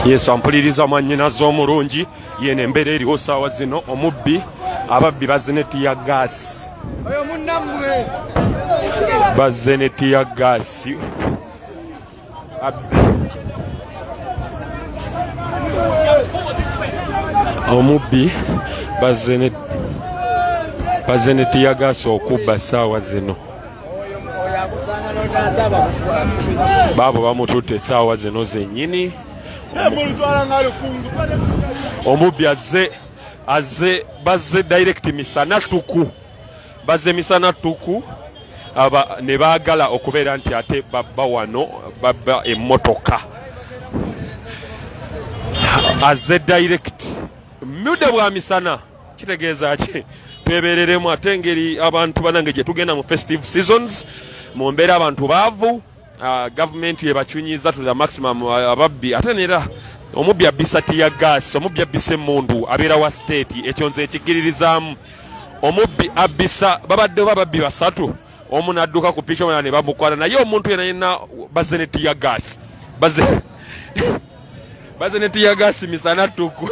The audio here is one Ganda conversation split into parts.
yesu ampuliriza mwanyinaze omulungi yeno embeera eriwo saawa zino omubbi ababbi bazze ne tiya gaasi bazze ne tiya gaasi omubbi bazze ne tiya gaasi okubba saawa zino baabo bamututte essaawa zino zennyini omubbi azze azze bazze direct misana tuku bazze misana tuku aba ne baagala okubeera nti ate babba wano babba emmotoka azze direct mude bwa misana kitegeeza ki twebereremu ate engeri abantu banange gyetugenda mu festive seasons mu mbeera abantu baavu ah, gavumenti yebakyunyiza to the maximum ah, ababbi ate nera omubbi abbisa tiya gas omubbi abbisa emundu abeera wa state ekyo nze ekigiririzaamu omubbi abbisa babadde oba babbi basatu omu nadduka ku piki omulala ne bamukwana naye omuntu yena yena bazze ne tiya gaasi bazze bazze ne tiya gaasi misa nattuku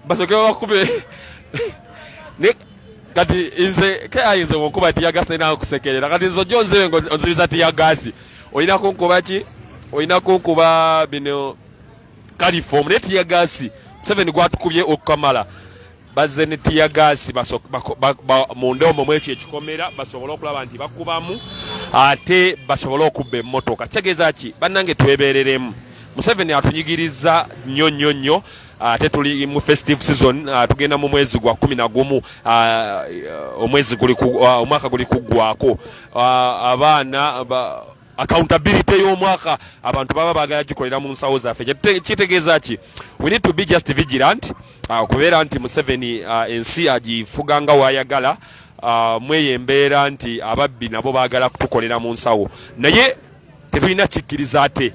basoke babakube ne kati nze ke ayinza okunkuba tiya gaasi naye nakusekerera kati nze ojja onzibe nga onzibiza tiya gaasi olina kunkuba ki olina kunkuba bino kalifoomu naye tiya gaasi museveni gwatukubye okukamala bazze ne tiyagaasi munda omwo mwekyo ekikomera basobole okulaba nti bakubamu ate basobole okubba emmotoka kitegeeza ki bannange twebereremu museveni atunyigiriza nnyo nnyo nnyo ate tuli mu festive season ah, tugenda mu mwezi gwa kumi na gumu ah, omwezi ah, omwaka guli kuggwako abaana accountability y'omwaka abantu baba bagala gikolera mu nsawo zaffe kitegeeza ki we need to be just vigilant uh, okubeera nti museveni uh, ensi agifuga nga wayagala uh, mweyo embeera nti ababbi nabo bagala kutukolera mu nsawo naye tetulina kikkiriza ate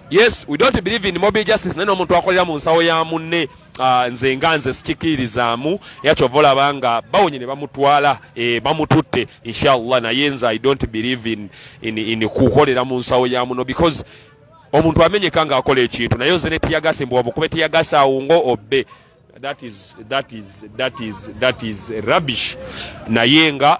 yes we don't believe in mobile justice naye n'omuntu akolera mu nsawo ya munne Ah, nze nga nze sikikiririzaamu era kyova olaba nga bawonye ne bamutwala eh, bamututte inshallah naye nze i don't believe in, in, in kukolera mu nsawo ya muno because omuntu amenyeka nga akola ekintu naye oze netiyagase mbu wamukube tiyagase awo nga obbe that is, that is, that is, that is rubbish naye nga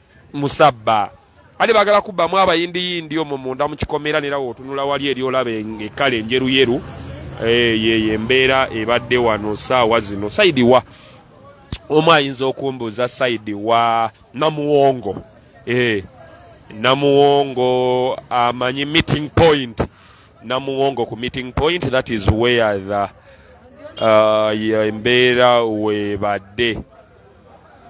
musabba ate bagala kubbamu abayindiyindi omwo munda mu kikomera nera wotunula wali eri olaba ekkala enjeruyeru eh, yeyo embeera ebadde wano saawa zino saidi wa omu ayinza okumbuuza saidi wa namuwongo eh, namuwongo amanyi meeting point namuwongo ku meeting point that is where the uh, embeera webadde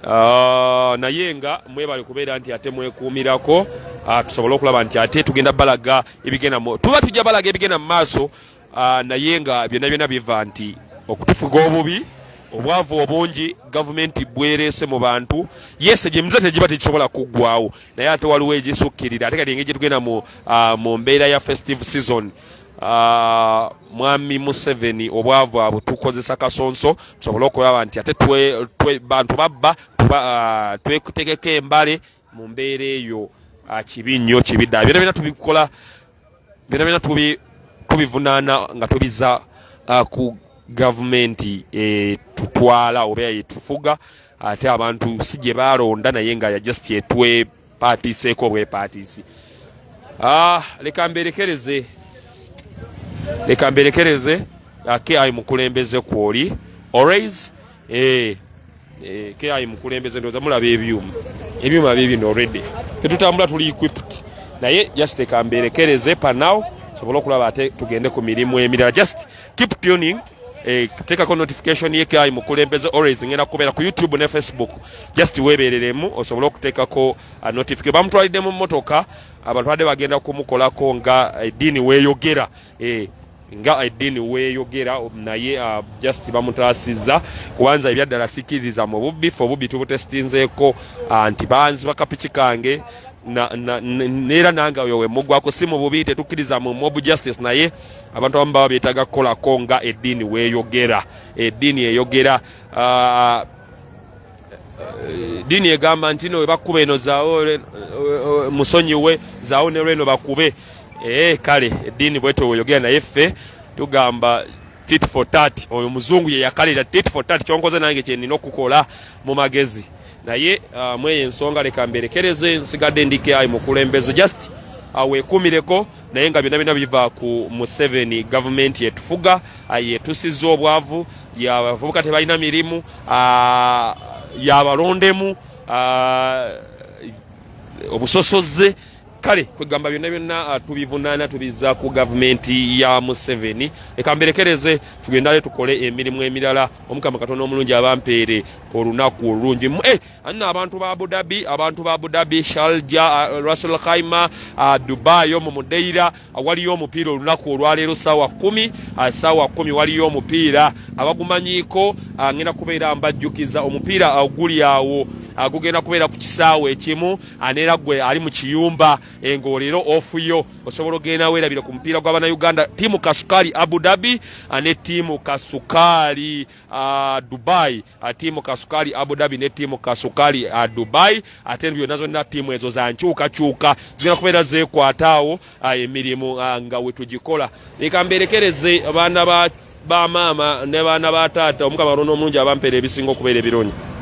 Ah, naye nga mwebale kubeera nti ate mwekuumirako ah, tusobole okulaba nti ate tugenda balaga ebigenda tuba tujja balaga ebigenda mu maaso ah, naye nga byonna byonna biva nti okutufuga obubi obwavu obungi gavumenti bwereese mu bantu yese gyemiza tegiba tekisobola kuggwawo naye ate waliwo egisukkirira ate kati engeri gyetugenda mu mbeera ya festive season Ah, mwami museveni obwavu abo tukozesa kasonso tusobole okulaba nti ate bantu babba ah, twetegeka embale mu mbeera eyo ah, kibi nnyo kibi ddala byona byona tubikola byona byona tubivunaana nga tubiza ku gavumenti etutwala oba etufuga ate abantu si gye balonda naye nga yajust etwe paatiiseeko obwepaatiisi ah, leka mberekereze leka mberekereze ki ah, mukulembeze kwoli always eh, eh, ki mukulembeze ndoza mulaba ebyuma ebyuma bibino already tetutambula tuli equipped naye just leka mberekereze panaw sobole okulaba ate tugende ku mirimu emirala just keep tuning Eh, tekako notification ye kai mukulembeze always ngenda kubera ku youtube ne facebook just webereremu osobola okutekako uh, notification bamutwalide mu motoka abatwade bagenda kumukolako nga eh, dini weyogera eh, nga edini weyogera naye uh, just bamutasiza kubanza ebyaddala sikiriza mu bubbi fe obubbi tubutestinzeeko uh, nti banzi bakapiki kange neera nange oyo wemugwako si mu bubi tetukkiriza mu mob justice naye abantu abamu baba beetaga kukolako nga eddiini weeyogera eddiini eyogera ah, dini egamba nti no webakuba eno zawo eh, eh, musonyiwe zawo nelweno bakube ee eh, kale edini bwete weyogera naye ffe tugamba tit for tat oyo muzungu yeyakalira tit for tat kyonkoze nange kyenina okukola mu magezi naye ah, mweyo ensonga leka mberekereze nsigadde ndikayi mukulembeze just awekumireko ah, naye nga byonna byonna biva ku museveni gavumenti yetufuga ah, yetusizza obwavu abavubuka tebalina mirimu ah, yabalondemu ah, obusosoze kale kwegamba byonna byonna tubivunaana tubiza ku gavumenti ya museveni leka mberekereze tugendale tukole emirimu emirala omukama katonda omulungi abampeere olunaku olulungi eh, anno abantu ba abudabi abantu ba abudabi shalja uh, rasul khaima uh, dubai omu mudeira uh, waliyo omupiira olunaku olwaleero saawa kumi uh, saawa kumi waliyo omupiira abagumanyiiko uh, ngenda kubeera mbajjukiza omupiira uh, guli awo uh, gugenda kubeera ku kisaawe ekimu aneera uh, gwe ali mu kiyumba engoolero eh, ofuyo osobola ogenda weerabire ku mupiira gw'abanauganda tiimu kasukaali abudabi uh, ne tiimu kasukaali uh, Dubai uh, tiimu kasukali Abu Dhabi ne tiimu kasukali uh, Dubai ate uh, byonna zonna tiimu ezo za nkyukakyuka zigenda kubeera zeekwataawo uh, emirimu uh, nga wetugikola leka mberekereze baana ba bamaama ne baana ba taata omukama alonda omulungi abampeera ebisinga okubeera ebirungi